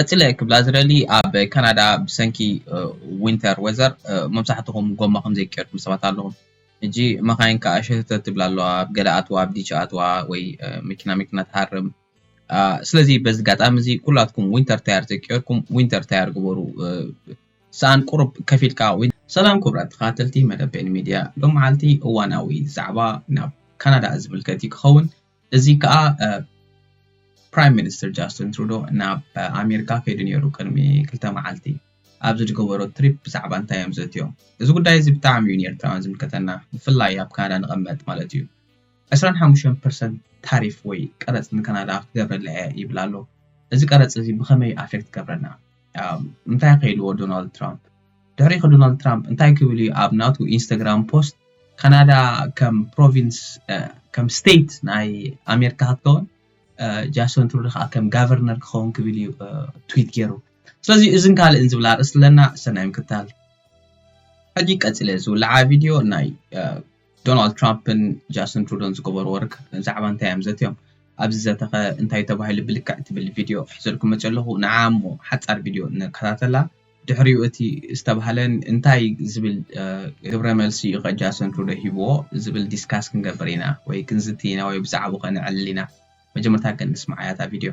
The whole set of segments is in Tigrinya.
ቀጺለ ክብላ ዝደሊ ኣብ ካናዳ ብሰንኪ ዊንተር ወዘር መብዛሕትኹም ጎማ ከምዘይ ቀይርኩም ሰባት ኣለኹም ሕጂ መኻይን ከኣ ሸተተት ይብላ ኣለዋ ኣብ ገለ ኣትዋ ኣብ ዲቺ ኣትዋ ወይ መኪና መኪና ትሃርም ስለዚ በዚ ጋጣሚ እዚ ኩላትኩም ዊንተር ታየር ዘይቀየርኩም ዊንተር ታየር ግበሩ ሰኣን ቁሩብ ከፍ ኢልካ ሰላም ክቡራት ተኸታተልቲ መደብ ቤኒ ሚድያ ሎምዓልቲ እዋናዊ ዛዕባ ናብ ካናዳ ዝምልከት እዩ ክኸውን። እዚ ከዓ ፕራይም ሚኒስትር ጃስትን ትሩዶ ናብ ኣሜሪካ ከይዱ ነይሩ ቅድሚ ክልተ መዓልቲ ኣብዚ ዝገበሮ ትሪፕ ብዛዕባ እንታይ እዮም ዘትዮም እዚ ጉዳይ እዚ ብጣዕሚ እዩ ንኤርትራውያን ዝምልከተና ብፍላይ ኣብ ካናዳ ንቐመጥ ማለት እዩ 25 ፐርሰንት ታሪፍ ወይ ቀረፅ ንካናዳ ክገብረላ እየ ይብል ኣሎ እዚ ቀረፅ እዚ ብኸመይ ኣፌክት ገብረና እንታይ ከይድዎ ዶናልድ ትራምፕ ድሕሪ ከ ዶናልድ ትራምፕ እንታይ ክብል እዩ ኣብ ናቱ ኢንስታግራም ፖስት ካናዳ ከም ፕሮቪንስ ከም ስቴት ናይ ኣሜሪካ ክትከውን ጃሶን ትሩዶ ከዓ ከም ጋቨርነር ክኸውን ክብል እዩ ትዊት ገይሩ ስለዚ እዝን ካልእን ዝብላ ርእስ ኣለና ሰናይ ምክታል ሕጂ ቀፂለ ዝውልዓ ቪድዮ ናይ ዶናልድ ትራምፕን ጃስን ትሩዶን ዝገበርዎ ርክብ ብዛዕባ እንታይ እዮም ዘትዮም? ኣብዚ ዘተኸ እንታይ ተባሂሉ ብልክዕ ትብል ቪድዮ ሒዘልኩም መፂኦ ኣለኹ ንዓ እሞ ሓፃር ቪድዮ ንከታተላ ድሕሪኡ እቲ ዝተባህለ እንታይ ዝብል ግብረ መልሲ እዩ ከ ጃስን ትሩዶ ሂብዎ ዝብል ዲስካስ ክንገብር ኢና ወይ ክንዝቲ ኢና ወይ ብዛዕባኡ ከ ነዕልል ኢና መጀመርታ ግን ንስምዓያ እታ ቪድዮ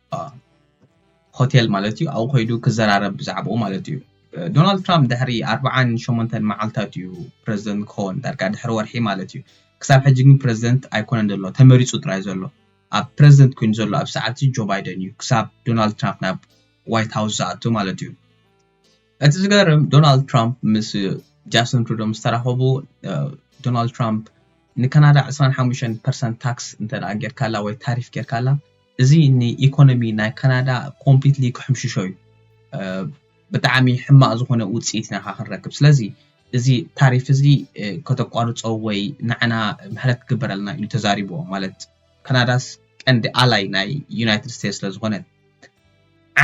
ሆቴል ማለት እዩ ኣብኡ ከይዱ ክዘራረብ ብዛዕባኡ ማለት እዩ ዶናልድ ትራምፕ ድሕሪ ኣርብዓን ሸሞንተን መዓልትታት እዩ ፕረዚደንት ክኸውን ዳርጋ ድሕሪ ወርሒ ማለት እዩ ክሳብ ሕጂ ግን ፕረዚደንት ኣይኮነን ዘሎ ተመሪፁ ጥራይ ዘሎ ኣብ ፕረዚደንት ኮይኑ ዘሎ ኣብ ሰዓት እዚ ጆ ባይደን እዩ ክሳብ ዶናልድ ትራምፕ ናብ ዋይት ሃውስ ዝኣቱ ማለት እዩ እቲ ዝገርም ዶናልድ ትራምፕ ምስ ጃስን ትሩዶ ምስ ተራኸቡ ዶናልድ ትራምፕ ንካናዳ 25 ፐርሰንት ታክስ እንተ ጌርካላ ወይ ታሪፍ ጌርካላ እዚ ን ኢኮኖሚ ናይ ካናዳ ኮምፕሊትሊ ክሕምሽሾ እዩ ብጣዕሚ ሕማቅ ዝኮነ ውጺኢት ኢና ክንረክብ ስለዚ እዚ ታሪፍ እዚ ከተቋርጾ ወይ ንዓና ምሕረት ክግበረልና ኢሉ ተዛሪብዎ ማለት ካናዳስ ቀንዲ ኣላይ ናይ ዩናይትድ ስቴትስ ስለ ዝኮነት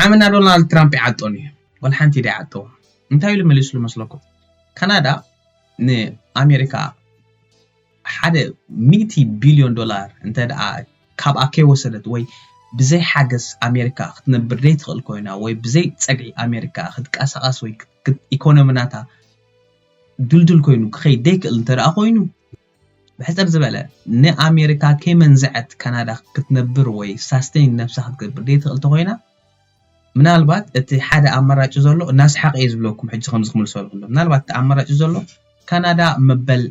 ዓምና ዶናልድ ትራምፕ ይዓጦን እዩ ወላ ሓንቲ ደይዓጠዎ እንታይ ኢሉ መሊስሉ መስለኩም ካናዳ ን ኣሜሪካ ሓደ ሚእቲ ቢልዮን ዶላር እንተድኣ ካብኣ ከይወሰደት ወይ ብዘይ ሓገዝ ኣሜሪካ ክትነብር ዘይትኽእል ኮይና ወይ ብዘይ ጸግዒ ኣሜሪካ ክትቀሳቐስ ወይ ኢኮኖሚ ናታ ድልዱል ኮይኑ ክኸይድ ዘይክእል እንተድኣ ኮይኑ ብሕጽር ዝበለ ንኣሜሪካ ከይመንዘዐት ካናዳ ክትነብር ወይ ሳስቴን ነብሳ ክትገብር ዘይትኽእል ተኾይና ምናልባት እቲ ሓደ ኣማራጭ ዘሎ እናስሓቀ እዩ ዝብለኩም ሕጂ ከምዚ ክምልሶ ዝኽእሎ ምናልባት እቲ ኣማራጭ ዘሎ ካናዳ መበል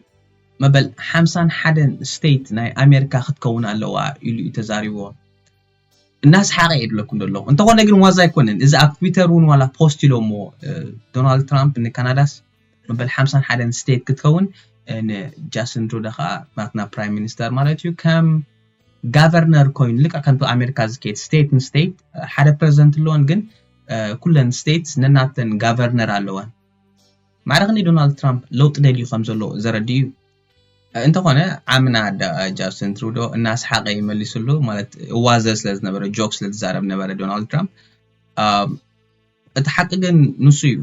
መበል ሓምሳን ሓደን ስቴት ናይ ኣሜሪካ ክትከውን ኣለዋ ኢሉ እዩ ተዛሪብዎ እናስሓቀ እዩ ዝብለኩም ዘለኹ እንተኾነ ግን ዋዛ ኣይኮነን እዚ ኣብ ትዊተር እውን ዋላ ፖስት ኢሎሞ ዶናልድ ትራምፕ ንካናዳስ መበል ሓምሳን ሓደን ስቴት ክትከውን ንጃስን ትሩዳ ከዓ ናትና ፕራይም ሚኒስተር ማለት እዩ ከም ጋቨርነር ኮይኑ ልክዕ ከምቲ ኣሜሪካ ዝከድ ስቴት ንስቴት ሓደ ፕረዚደንት ኣለዎን ግን ኩለን ስቴት ነናተን ጋቨርነር ኣለወን ማዕረኽ ን ዶናልድ ትራምፕ ለውጢ ደልዩ ከም ዘሎ ዘረድእ እዩ እንተኾነ ዓምና ጃስትን ትሩዶ እናስሓቐ ይመሊስሉ ማለት እዋዘ ስለ ዝነበረ ጆክ ስለ ዝዛረብ ነበረ ዶናልድ ትራምፕ እቲ ሓቂ ግን ንሱ እዩ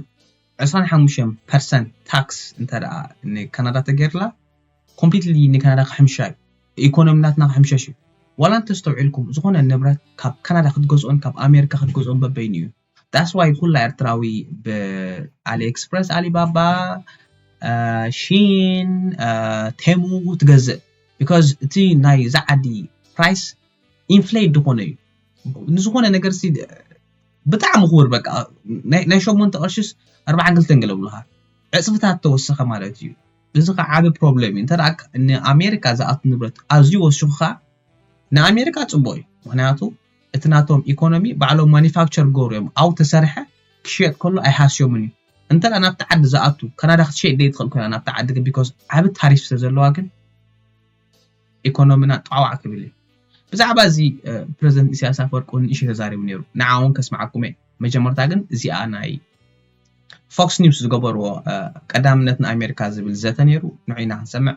25 ፐርሰንት ታክስ እንተ ንካናዳ ተገይርላ ኮምፕሊትሊ ንካናዳ ክሕምሻ እዩ ኢኮኖሚ ናትና ክሕምሸሽ እዩ ዋላ እንተስተውዒልኩም ዝኾነ ንብረት ካብ ካናዳ ክትገዝኦን ካብ ኣሜሪካ ክትገዝኦን በበይኑ እዩ ዳስ ዋይ ኩላ ኤርትራዊ ብኣሊ ኤክስፕረስ ኣሊባባ ሺን ቴሙ ትገዝእ ቢካዝ እቲ ናይ እዛ ዓዲ ፕራይስ ኢንፍሌት ዝኾነ እዩ ንዝኾነ ነገር ሲ ብጣዕሚ ክቡር በቃ ናይ ሸሞንተ ቅርሽስ ኣርባዓን ክልተን ገለ ብልካ ዕፅፍታት ተወሰኸ ማለት እዩ እዚ ከኣ ዓቢ ፕሮብለም እዩ እንተ ንኣሜሪካ ዝኣቱ ንብረት ኣዝዩ ወሲኹ ከኣ ንኣሜሪካ ጽቡቕ እዩ ምክንያቱ እቲ ናቶም ኢኮኖሚ ባዕሎም ማኒፋክቸር ገሩ እዮም ኣው ተሰርሐ ክሽየጥ ከሎ ኣይሃስዮምን እዩ እንተ ናብቲ ዓዲ ዝኣቱ ካናዳ ክትሸይጥ ደይትኽእል ኮይና ናብቲ ዓዲ ግን ቢኮዝ ዓቢ ታሪፍ ስለ ዘለዋ ግን ኢኮኖምና ጣዕዋዕ ክብል እዩ። ብዛዕባ እዚ ፕረዚደንት ኢሳያስ ኣፈወርቂ እውን ንእሽተይ ተዛሪቡ ነይሩ ንዓ እውን ከስምዓኩም እየ መጀመርታ ግን እዚኣ ናይ ፎክስ ኒውስ ዝገበርዎ ቀዳምነት ንኣሜሪካ ዝብል ዘተ ነይሩ ንዑ ኢና ክንሰምዕ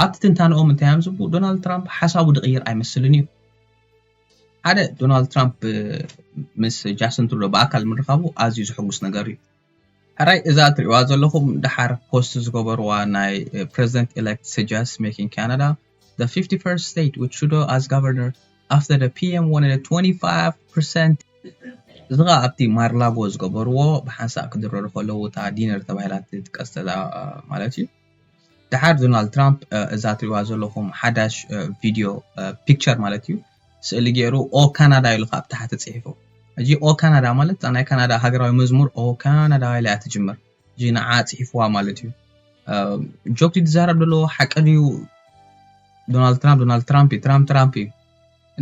ኣብቲ ትንታነኦም እንታይ እዮም ዝብሉ ዶናልድ ትራምፕ ሓሳቡ ድቕይር ኣይመስልን እዩ ሓደ ዶናልድ ትራምፕ ምስ ጃስትን ትሩዶ ብኣካል ምርኻቡ ኣዝዩ ዝሕጉስ ነገር እዩ ሕራይ እዛ እትሪእዋ ዘለኹም ደሓር ፖስት ዝገበርዋ ናይ ፕረዚደንት ኤሌክት ሰጃስት ሜኪንግ ካናዳ the 51st state with Trudeau as governor after the PM wanted a 25% እዚ ከዓ ኣብቲ ማርላጎ ዝገበርዎ ብሓንሳእ ክድረሩ ከለዉ እታ ዲነር ተባሂላ ትጥቀስ ዘላ ማለት እዩ። ድሓር ዶናልድ ትራምፕ እዛ ትሪእዋ ዘለኹም ሓዳሽ ቪድዮ ፒክቸር ማለት እዩ ስእሊ ገይሩ ኦ ካናዳ ኢሉ ካብ ታሕቲ ጽሒፉ እዚ ኦ ካናዳ ማለት እዛ ናይ ካናዳ ሃገራዊ መዝሙር ኦ ካናዳ ኢላ እያ ትጅምር እዚ ንዓ ጽሒፍዋ ማለት እዩ ጆክ ዝዛረብ ዘለዎ ሓቂ ድዩ ዶናልድ ትራምፕ ዶናልድ ትራምፕ እዩ ትራምፕ ትራምፕ እዩ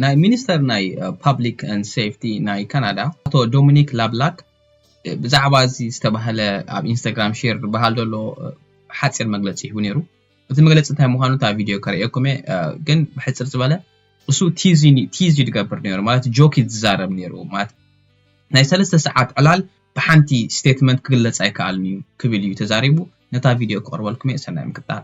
ናይ ሚኒስተር ናይ ፓብሊክ ን ሴፍቲ ናይ ካናዳ ኣቶ ዶሚኒክ ላብላክ ብዛዕባ እዚ ዝተባህለ ኣብ ኢንስታግራም ሼር ዝበሃል ዘሎ ሓፂር መግለፂ ሂቡ ነይሩ እቲ መግለፂ እንታይ ምዃኑ እታ ቪድዮ ከርእየኩም እየ ግን ብሕፅር ዝበለ እሱ ቲዝ ቲዝ ይድገብር ነይሩ ማለት ጆክ ይዛረብ ነይሩ ማለት ናይ ሰለስተ ሰዓት ዕላል ብሓንቲ ስቴትመንት ክግለፅ ኣይከኣልን እዩ ክብል እዩ ተዛሪቡ ነታ ቪድዮ ክቕርበልኩም እየ ሰናይ ምክታል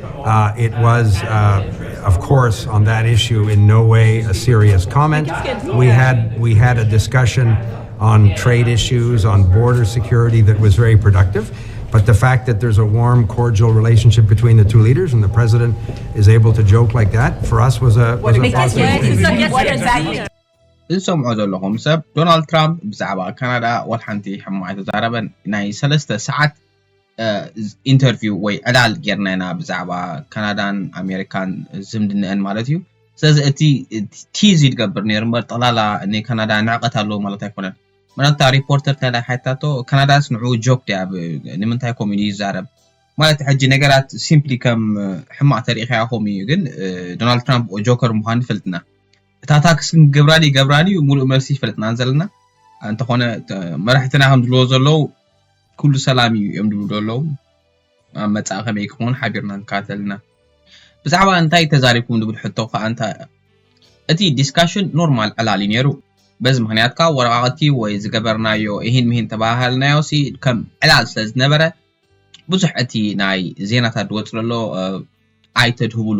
እዚ ትሰምዑዎ ዘለኹም ሰብ ዶናልድ ትራምፕ ብዛዕባ ካናዳ ዋላ ሓንቲ ሕማቕ ኣይተዛረበን ናይ ሰለስተ ሰዓት ኢንተርቪው ወይ ዕላል ጌርና ኢና ብዛዕባ ካናዳን ኣሜሪካን ዝምድነአን ማለት እዩ ስለዚ እቲ ቲዝ ይትገብር ነይሩ እምበር ጠቕላላ ንካናዳ ንዕቀት ኣለዎ ማለት ኣይኮነን ምናታ ሪፖርተር ተላ ሓታቶ ካናዳስ ንዑ ጆክ ድያ ንምንታይ ከምኡ ኢሉ ይዛረብ ማለት ሕጂ ነገራት ሲምፕሊ ከም ሕማቕ ተሪኢኻያ ከምኡ እዩ ግን ዶናልድ ትራምፕ ጆከር ምዃኑ ፈልጥና እታ ታክስ ግን ክገብራ ድዩ ይገብራ ድዩ ሙሉእ መልሲ ይፈለጥናን ዘለና እንተኾነ መራሕትና ከም ዝብልዎ ዘለዉ ኩሉ ሰላም እዩ እዮም ዝብሉ ዘለዉ ኣብ መጻኢ ከመይ ክኸውን ሓቢርና ንከታተል ኢና ብዛዕባ እንታይ ተዛሪብኩም ዝብል ሕቶ ከዓ እንተ እቲ ዲስካሽን ኖርማል ዕላል እዩ ነይሩ በዚ ምክንያት ከዓ ወረቃቅቲ ወይ ዝገበርናዮ ይህን ምሂን ተባሃልናዮ ሲ ከም ዕላል ስለ ዝነበረ ብዙሕ እቲ ናይ ዜናታት ዝወፅ ዘሎ ኣይተድህብሉ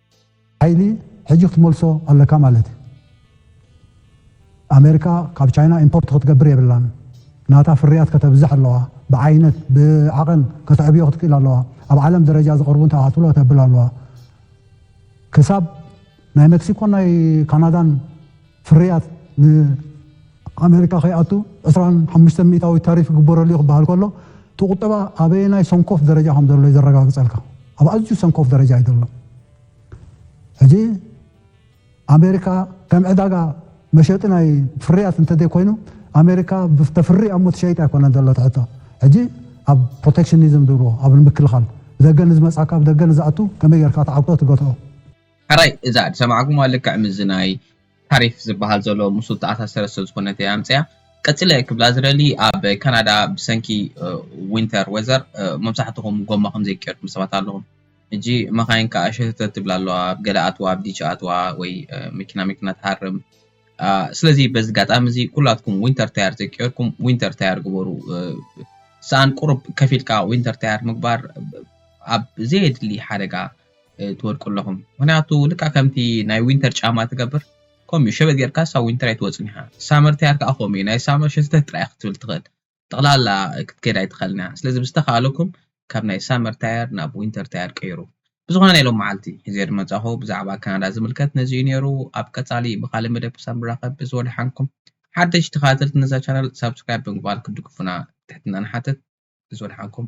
ሓይሊ ሕጂ ክትመልሶ ኣለካ ማለት እዩ ኣሜርካ ካብ ቻይና ኢምፖርት ክትገብር የብላን ናታ ፍርያት ከተብዝሕ ኣለዋ ብዓይነት ብዓቐን ከተዕብዮ ክትክእል ኣለዋ ኣብ ዓለም ደረጃ ዝቕርቡ እንታይ ክትብሎ ከተብል ኣለዋ ክሳብ ናይ መክሲኮን ናይ ካናዳን ፍርያት ንኣመሪካ ከይኣቱ ዕስራን ሓሙሽተን ሚእታዊት ታሪፍ ይግበረሉ እዩ ክበሃል ከሎ እቲ ቁጠባ ኣበየናይ ሰንኮፍ ደረጃ ከም ዘሎ እዩ ዘረጋግጸልካ። ኣብ ኣዝዩ ሰንኮፍ ደረጃ እዩ ዘሎ። ሕጂ ኣመሪካ ከም ዕዳጋ መሸጢ ናይ ፍርያት እንተዘይኮይኑ ኣመሪካ ተፍሪ ኣሞ ትሸይጥ ኣይኮነን ዘሎ እቲ ሕቶ። ሕጂ ኣብ ፕሮቴክሽኒዝም ዝብልዎ ኣብ ምክልኻል ብደገ ንዝመጽኣካ ብደገ ንዝኣቱ ከመይ ጌርካ ትዓግቶ ትገትኦ። ሕራይ እዛ ድሰማዕኩማ ልክዕ ምስዚ ናይ ታሪፍ ዝባሃል ዘሎ ምስኡ ተኣሳሰረ ስለዝኮነት እየ ኣምጺኣ ቀጺለ ክብላ ዝደሊ ኣብ ካናዳ ብሰንኪ ዊንተር ወዘር መብዛሕትኩም ጎማ ከምዘይ ገርኩም ሰባት ኣለኩም ሕጂ መካይን ከኣ ሸተተት ይብላ ኣለዋ ኣብ ገለ ኣትዋ ኣብ ዲቺ ኣትዋ ወይ መኪና መኪና ትሃርም ስለዚ በዚ ኣጋጣሚ እዚ ኩላትኩም ዊንተር ታየር ዘይገርኩም ዊንተር ታየር ግበሩ ሰኣን ቁሩብ ከፊልካ ዊንተር ታየር ምግባር ኣብ ዘየድሊ ሓደጋ ትወድቁ ኣለኹም ምክንያቱ ልክዕ ከምቲ ናይ ዊንተር ጫማ ትገብር ከምኡ እዩ ሸበጥ ጌርካ ሳብ ዊንተር ኣይትወፅን ኢኻ ሳመር ተያር ከዓ ከምኡ እዩ ናይ ሳመር ሸተት ጥራይ ክትብል ትኽእል ጠቕላላ ክትከድ ኣይትኽእልን እያ ስለዚ ብዝተኻእለኩም ካብ ናይ ሳመር ታየር ናብ ዊንተር ታየር ቀይሩ ብዝኾነ ናይ ሎም መዓልቲ ሒዘ ዝመፃኹ ብዛዕባ ካናዳ ዝምልከት ነዚ እዩ ነይሩ ኣብ ቀፃሊ ብካልእ መደብ ክሳብ ንራኸብ እዚ ወደሓንኩም ሓደሽቲ ተኸታተልቲ ነዛ ቻናል ሳብስክራይብ ብምግባር ክትድግፉና ትሕትና ንሓትት እዚ ወደሓንኩም